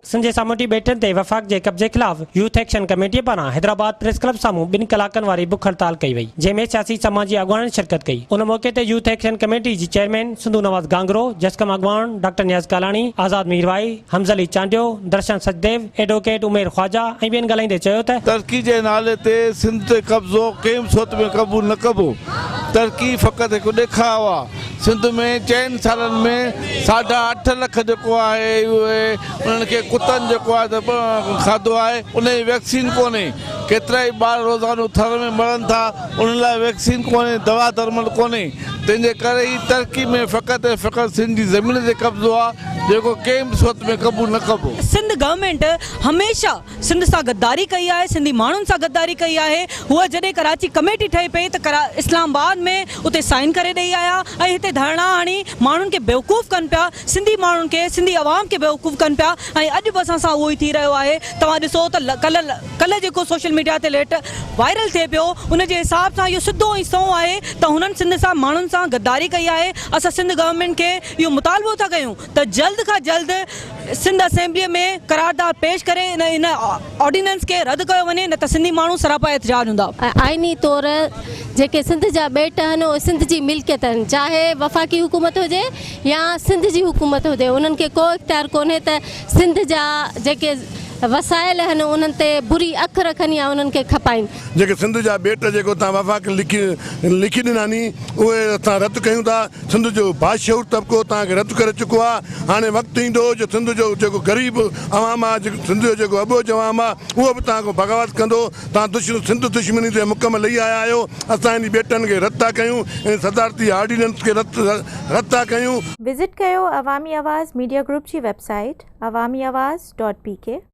سنڌ جي سامونڊي ٻيٽن تي وفاق جي قبضي خلاف يوٿ ايڪشن ڪميٽي پاران حيدرآباد پريس ڪلب سامهون ٻن ڪلاڪن واري بک هڙتال ڪئي وئي جنهن ۾ سياسي سماجي اڳواڻن شرڪت ڪئي ان موقعي تي يوٿ ايڪشن ڪميٽي جي چيئرمين سنڌو نواز گانگرو جسقم اڳواڻ ڊاڪٽر نياز ڪالاڻي آزاد ميرواهي حمزه علي چانڊيو درشن سچديو ايڊووڪيٽ عمير خواجا ۽ ٻين ڳالهائيندي چيو ته ترڪي جي نالي تي سنڌ تي قبضو ڪنهن به صورت ۾ قبول نه ڪبو ترڪي فقط هڪ ڏيکاء آ. سنڌ ۾ چئن سالن ۾ ساڍا اٺ لک جيڪو آهي اهي انهن کي ڪتن جيڪو آهي ته کاڌو آهي ان جي ويڪسين ڪونهي ڪيترا ئي ٻار روزانو ٿر ۾ مرن ٿا انهن لاء ويڪسين ڪونهي دوا درمل ڪونهي تنهن جي ڪري هي ترقي ۾ فقط ۽ فقط سنڌ جي زمين تي قبضو آهي جيڪو ڪنهن به صورت ۾ قبول نه ڪبو. سنڌ گورنمينٽ هميشه سنڌ سان غداري ڪئي آهي سنڌي ماڻهن سان غداري ڪئي آهي هو جڏهن ڪراچي ڪميٽي ٺهي پئي ته اسلام آباد ۾ اتي سائين ڪري ڏئي آيا ۽ هتي ڌرڻا هڻي ماڻهن کي بيوقوف ڪن پيا سنڌي ماڻهن کي سنڌي عوام کي بيوقوف ڪن پيا ۽ اڄ به اسان سان اهو ئي ٿي رهيو آهي توهان ڏسو ته ڪلهه ڪلهه جيڪو سوشل ميڊيا تي ليٽ وائرل ٿئي پيو ان جي حساب سان اهو سڌو ۽ سنئون آهي ته هنن سنڌ سان ماڻهن سان غداري ڪئي آهي اسان سنڌ گورنمينٽ کي اهو مطالبو ٿا ڪيون ته جلد کان جلد سنڌ اسيمبلي ۾ قرارداد پيش ڪري ان آرڊيننس کي رد ڪيو وڃي نه ته سنڌي ماڻهو سراپا احتجاج هوندا. آئيني طور جيڪي سنڌ جا ٻيٽ آهن اهي سنڌ جي ملڪيت آهن چاهي وفاقي حڪومت هجي يا سنڌ جي حڪومت هجي انهن کي ڪو اختيار ڪونهي ته سنڌ جا جيڪي وسائل آهن انهن تي بري اک رکن يا انهن کي کپائين. جيڪي سنڌ جا ٻيٽ جيڪي اتان وفاق لکي ڏنا ني اهي اسان رد ڪيون ٿا. سنڌ جو باشعور طبقو توهان کي رد ڪري چڪو آهي، هاڻي وقت ايندو جو سنڌ جو جيڪو غريب عوام آهي، جيڪو سنڌ جو جيڪو اٻوجهه عوام آهي، اهو به توهان کان بغاوت ڪندو، توهان دشمن سنڌ دشمني تي مڪ ۾ لهي آيا آهيو، اسان هنن ٻيٽن کي رد ٿا ڪيون، هنن صدارتي آرڊيننس کي رد ٿا ڪيون. وزٽ ڪيو عوامي آواز ميڊيا گروپ جي website Awami Awaz dot P ڪي.